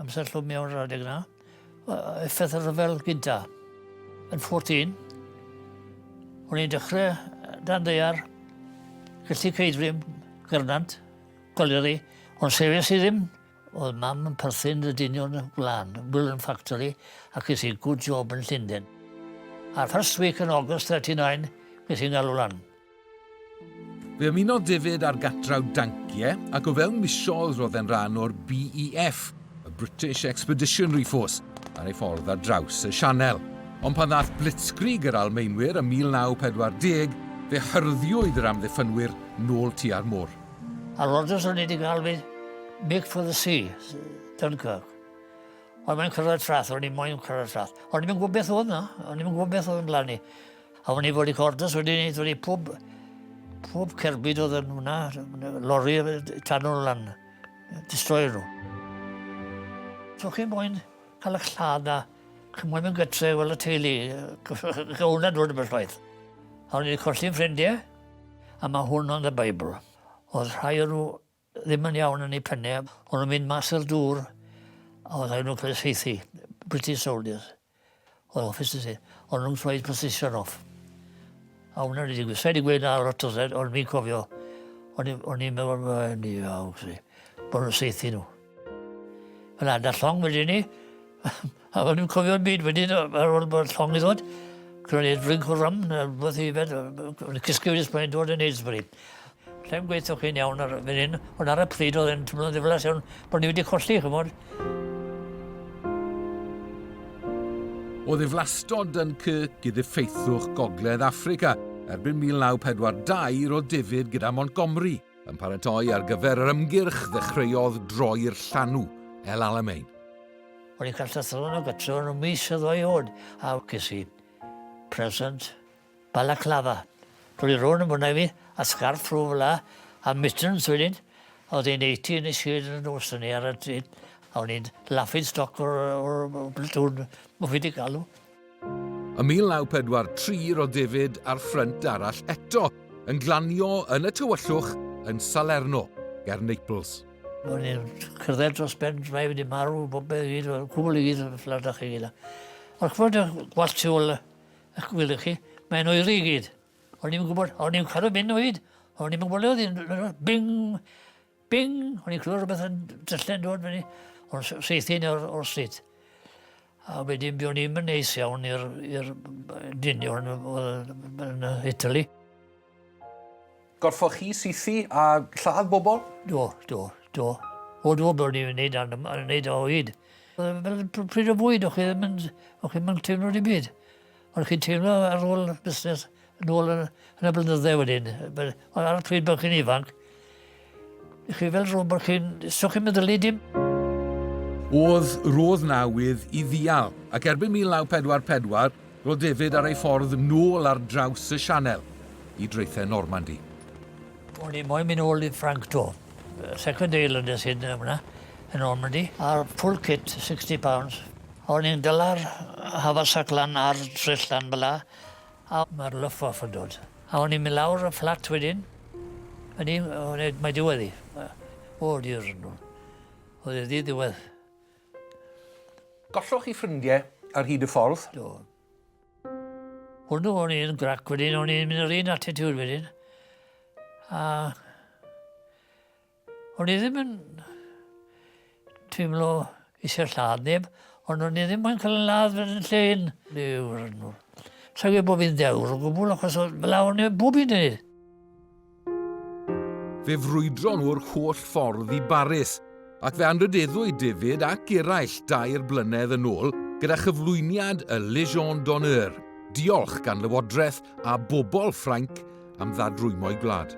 Amser llwm iawn yr adeg yna. Effaith y rhyfel gynta. Yn 14, o'n i'n dechrau dan ddeiar, gallu ceidrym, gyrnant, goleri, ond sefes i ddim oedd mam yn perthyn y dynion y gwlan, Willen Factory, ac is i good job yn Llundain. A'r first week yn August 39, nes i'n galw lan. Fe ymunodd David â'r Gatraw Dankie ac o fewn misoedd roedd e'n rhan o'r BEF, y British Expeditionary Force, ar ei ffordd ar draws y Sianel. Ond pan ddaeth Blitzkrieg yr Almaenwyr ym 1940, fe hyrddiwyd yr amddiffynwyr nôl tua'r môr. A Rogers o'n i wedi cael fi Mick for the Sea, Dunkirk. Ond mae'n cyrraedd trath, o'n i moyn cyrraedd trath. O'n i'n gwybod beth oedd na, o'n i'n gwybod beth oedd yn blannu. A o'n i fod i cordas wedi neud wedi pwb, pwb cerbyd oedd yn hwnna, lori tan nhw lan, destroyer nhw. So chi'n moyn cael y lladd na, chi'n moyn mynd gytre fel y teulu, gawn dod yn bellwaith. A o'n i'n colli'n ffrindiau, a mae hwn ond y Beibl. Oedd rhai o'n nhw ddim yn iawn yn ei phenne, o'n nhw'n mynd mas i'r dŵr, a oedd rhaid nhw cael saethu, British soldiers, oedd officers i, o'n nhw'n troi position off. A hwnna wedi digwydd, sa'i wedi gweud na lot o zed, ond fi'n cofio, o'n i'n meddwl, mae'n ni iawn, bod nhw'n saethu nhw. Fel adar llong wedyn ni, A o'n i'm cofio dim byd wedyn yy ar ôl bod llong 'di ddod. Ro'n i'n drink o rum ne' rwbeth i yfed yy b- b- o'n i'n cysgu wedyn pan o'n i'n dod yn Aylesbury. Allai'm gweutho chi'n iawn ar y funud ond ar y pryd o'dd e'n twmlo'n ddiflas iawn bo' ni wedi colli ch'mod. O ddiflastod Dunkirk i ddiffaethwch Gogledd Affrica erbyn 1942 ro'dd David gyda Montgomery yn paratoi ar gyfer yr ymgyrch ddechreuodd droi'r llanw, El Alamein. O'n i'n cael llythryn o gytre yn y mis oedd o'i hod, a ges i present balaclava. Roedd i rown yn fyna i fi, a sgarff rhw fel la, a mittens wedyn. Oedd hi'n 80 yn y shed yn y nos yn ni ar y tyd, a o'n i'n laffin stoc o'r, or, or, platoon, mwfi di galw. Ym 1943 roedd David ar ffrynt arall eto, yn glanio yn y tywyllwch yn Salerno, ger Naples. O'n i'n cerdded dros ben drai wedi marw, bob beth i gyd, cwbl i gyd, ffladach i gyd. Ond chwbl dy gwallt tu ôl eich gwyl chi, mae'n oeri i gyd. O'n i'n gwybod, o'n i'n cadw mynd o hyd, o'n i'n gwybod oedd i'n bing! Bing! O'n i'n clywed rhywbeth yn dyllen dod fyny o'r seithyn o'r, or stryd. A wedyn byddwn ni'n mynd neis iawn i'r dynion yn Italy. Gorffoch chi sythu a lladd bobl? Do, do, do. O do, byddwn ni'n gwneud yn gwneud o hyd. Fel pryd o fwyd, o'ch chi ddim yn, o'ch chi ddim yn teimlo dim byd. Ond chi'n teimlo ar ôl busnes yn ôl yn, yn y blynyddau wedyn, ond ar y pryd bod chi'n ifanc, chi fel rhywun bod chi'n, so chi'n meddylu dim. Oedd roedd nawydd i ddial, ac erbyn 1944 roedd David ar ei ffordd nôl ar draws y Sianel i draethau Normandy. O'n i moyn mynd ôl i Frank to, second day London sy'n hwnna, yn Normandy, a'r full kit, 60 pounds, O'n i'n dala'r haversack lan ar dryll lan fela a ma'r luff off yn dod. A o'n i'n myn' lawr y fflat wedyn o'n i o ne- mae diwedd 'i. Yy o Duw! O'dd e ddi ddiwedd. Golloch chi ffrindie ar hyd y ffordd? Do. Hwnnw o'n i'n grac wedyn o'n i'n myn' yr un attitude wedyn a O'n i ddim yn teimlo eisiau lladd neb, ond o'n i ddim yn cael yn ladd fod yn lle un. Dewr yn nhw. Sa'n gwybod bod fi'n dewr o gwbl, achos oedd fel awn i'n bwb i'n ei. Fe frwydron nhw'r holl ffordd i Baris, ac fe anrydeddwyd David ac eraill dair blynedd yn ôl gyda chyflwyniad y Légion d'honneur, diolch gan Lywodraeth a bobl Ffrainc am ddadrwymo'i gwlad.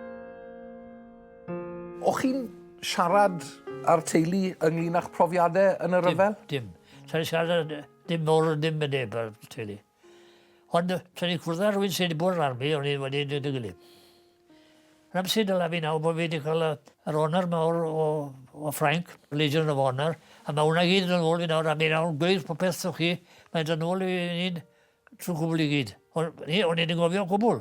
O'ch chi'n siarad â'r teulu ynglyn â'ch profiadau yn y rhyfel? Dim, dim. Tra ni siarad dim mor ddim yn neb ar teulu. Ond tra ni cwrdd â rhywun sydd wedi bod yn armi, o'n i wedi dweud y gilydd. Yn amser dyla fi nawr bod fi wedi cael yr honor mawr o, o Ffrainc, Legion of Honor, a mae hwnna gyd yn ôl fi nawr, a mi nawr gweud popeth o'ch chi, mae'n dod ôl i ni'n trwy gwbl i gyd. O'n i wedi gofio gwbl.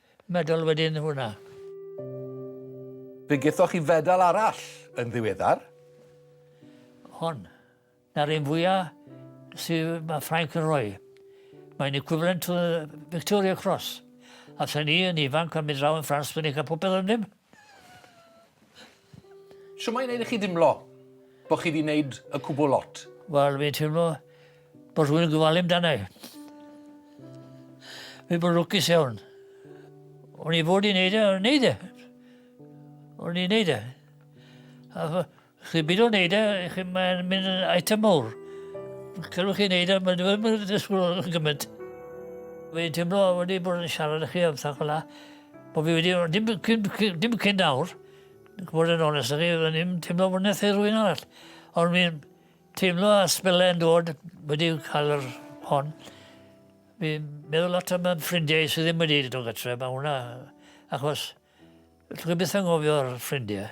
Medal wedyn hwnna. Fe gethoch chi fedal arall yn ddiweddar. Hon. Na'r un fwya sy mae Ffrainc yn rhoi. Mae'n equivalent to the Victoria Cross. A thyn ni yn ifanc a mynd draw yn Ffrans, fe ni'n cael popeth arnyn nhw. Shwt mae'n neud i chi dimlo bo' chi 'di neud y cwbwl lot? Wel fi'n teimlo bo' rhywun yn gofalu amdana i. Fi bo' lwcus iawn. O'n i fod i neud e o'n i neud e. O'n i neud e. Chi'n mynd o'n neud e, chi'n mae'n mynd yn item mowr. Cylwch chi'n neud e, mae'n dweud, mae'n dweud ysgwyl yn gymaint. Mae'n teimlo wedi bod yn siarad chi am sac o'la, bod fi wedi, dim, dim, dim, dim cyn nawr, gwybod yn onest chi, o'n i'n teimlo bod nes rwy'n arall. Ond mi'n teimlo a sbelau yn dod wedi cael yr hon. Mi'n meddwl lot am ffrindiau sydd ddim wedi dod o gytre, mae hwnna, achos, dwi'n byth yn gofio'r ffrindiau.